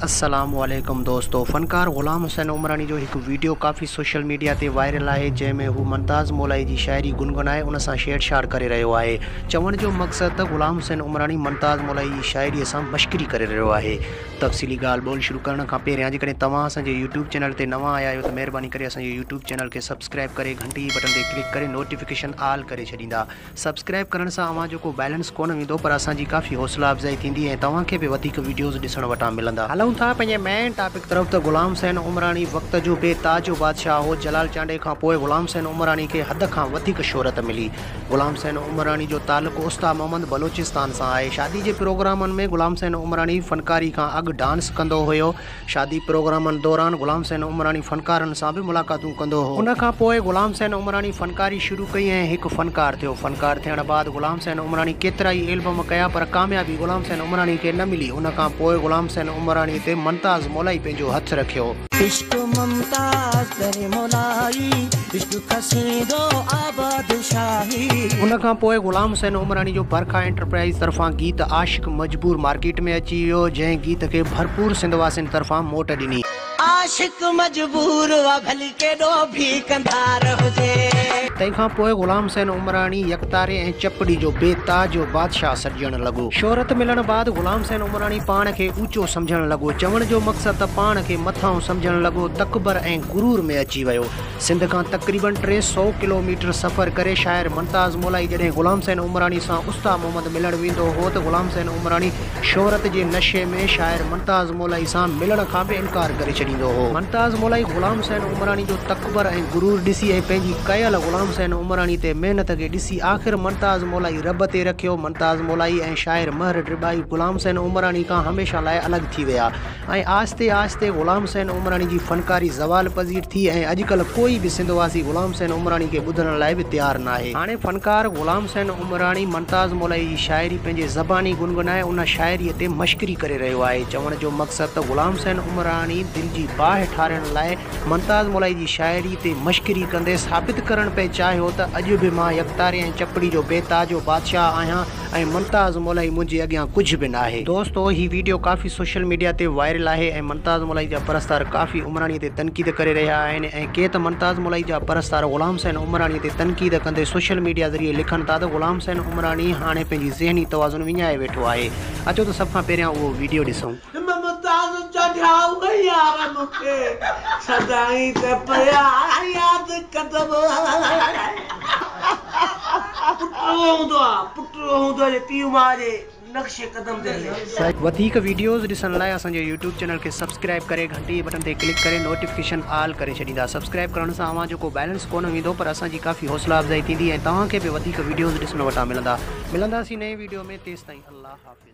السلام عليڪم دوستو فنڪار غلام حسين عمراڻي جو هڪ ويڊيو ڪافي سوشل ميڊيا تي وائرل آهي جنهن ۾ هو ممتاز مولائي جي شاعري گنگنائي ان سان ڇيڙڇاڙ ڪري رهيو آهي چوڻ جو مقصد ته غلام حسين عمراڻي ممتاز مولائي جي شاعري سان مشڪري ڪري رهيو آهي تفصيلي ڳالهه ٻولهه شروع ڪرڻ کان پهريان جيڪڏهن توهان اسان جي يوٽيوب چينل تي نوان آيا آهيو ته مهرباني ڪري اسان جي يوٽيوب چينل کي سبسڪرائب ڪري گهنٽي جي بٽن تي ڪلڪ ڪري نوٽيفڪيشن آل ڪري ڇڏيندا سبسڪرائب ڪرڻ سان اوهان جو ڪو بئلنس ڪونه ويندو پر اسان جي ڪافي حوصلا افزائي ٿيندي ۽ توهان کي به وڌيڪ ويڊيوز ڏسڻ وٽان ملندا. هلون ٿا پنهنجي مين ٽاپڪ طرف ته غلام حسين عمراڻي وقت جو بي تاج بادشاهه هو جلال چانڊئي کان پوء غلام حسين عمراڻي کي حد کان وڌيڪ شهرت ملي غلام حسين عمراڻي جو تعلق استاد محمد بلوچستان سان آهي شادي جي پروگرامن ۾ غلام حسين عمراڻي فنڪاري کان اڳ ڊانس ڪندو هيو شادي پروگرامن دوران غلام حسين عمراڻي فنڪارن سان به ملاقاتون ڪندو هو. ان کان پوء غلام حسين عمراڻي فنڪاري شروع ڪئي ۽ هڪ فنڪار ٿيو. فنڪار ٿيڻ بعد غلام حسين عمراڻي ڪيترائي ايلبم ڪيا پر ڪاميابي غلام حسين عمراڻي کي نه ملي. ان کان پوء غلام حسين عمراڻي تي ممتاز مولائي پنهنجو هٿ رکيو. عشق ممتاز در مولائي، عشق کسيندو آباد شاهي. ان کان پوء غلام حسين عمراڻي جو برکا انٽرپرائيز طرفان گيت عاشق. مجبور مارڪيٽ ۾ اچي ويو جنهن گيت کي ڀرپور سنڌ واسين طرفان موٽ ڏني. عاشق مجبور آ ڀلي ڪيڏو ڀي ڪنڌار هجي. تنهن کان پوء غلام حسين عمراڻي يڪتاري ۽ چپڙي جو بي تاج و بادشاهه سڏجڻ لڳو. شهرت ملڻ بعد غلام حسين عمراڻي پاڻ کي اوچو سمجهڻ لڳو. چوڻ جو مقصد ته پاڻ کي مٿانهون سمجهڻ لڳو، تڪبر ۽ غرور ۾ اچي ويو. سنڌ کان تقريبن ٽي سؤ ڪلوميٽر سفر ڪري شاعر ممتاز مولائي جڏهن غلام حسين عمراڻي سان استا محمد ملڻ ويندو هو ته غلام حسين عمراڻي شهرت جي نشي ۾ شاعر ممتاز مولائي سان ملڻ کان به انڪار ڪري ڇڏيندو هو. ممتاز مولائي غلام حسين عمراڻي جو تڪبر ۽ غرور ڏسي ۽ پنهنجي ڪيل غلام حسين عمراڻي تي محنت کي ڏسي آخر ممتاز مولائي رب تي رکيو. ممتاز مولائي ۽ شاعر مهر ڊرٻائي غلام حسين عمراڻي کان هميشه لاء الڳ ٿي ويا. ائين آهستي آهستي غلام حسين عمراڻي جي فنڪاري زوال پذير ٿي ۽ اڄڪلهه ڪوئي به سنڌ واسي غلام حسين عمراڻي کي ٻڌڻ لاء به تيار ناهي. هاڻي فنڪار غلام حسين عمراڻي منتاز مولائي جي شاعري پنهنجي زباني گنگنائي ان شاعريء تي مشڪري ڪري رهيو آهي. چوڻ جو مقصد ته غلام حسين عمراڻي دل جي باهه ٺارڻ لاء منتاز مولائي جي شاعري تي مشڪري ڪندي ثابت ڪرڻ پئي چاهيو ته اڄ به مان يڪتاري ۽ چپڙي جو بي تاج و بادشاهه آهيان، ۽ ممتاز مولائي منهنجي اڳيان ڪجهه به ناهي. دوستو هي ويڊيو ڪافي سوشل ميڊيا تي وائرل آهي ۽ ممتاز مولائي جا پرستار ڪافي عمراڻي تي تنقيد ڪري رهيا آهن ۽ ڪي ته ممتاز مولائي جا پرستار غلام حسين عمراڻي تي تنقيد ڪندي سوشل ميڊيا ذريعي لکن ٿا ته غلام حسين عمراڻي هاڻي پنهنجي ذهني توازن وڃائي ويٺو آهي اچو ته سڀ کان پهريان اهو ويڊيو ڏسون. ممتاز چاڍيا هو يار مون کي سدائين ته پيا ياد ڪندم. پٽ اهو هوندو آ پٽ اهو هوندو آ جو پيء ماء جي نقش قدم تي هلي. وڌيڪ وڊيوز ڏسڻ لاء اسان جي يوٽيوب چينل کي سبسڪرائب ڪري گهنٽي جي بٽن تي ڪلڪ ڪري نوٽيفڪيشن آل ڪري ڇڏيندا سبسڪرائب ڪرڻ سان اوهان جو ڪو بيلنس ڪونه ويندو پر اسان جي ڪافي حوصلا افزائي ٿيندي ۽ توهان کي به وڌيڪ وڊيوز ڏسڻ وٽان ملندا ملنداسين نئين وڊيو ۾ تيستائين الله حافظ.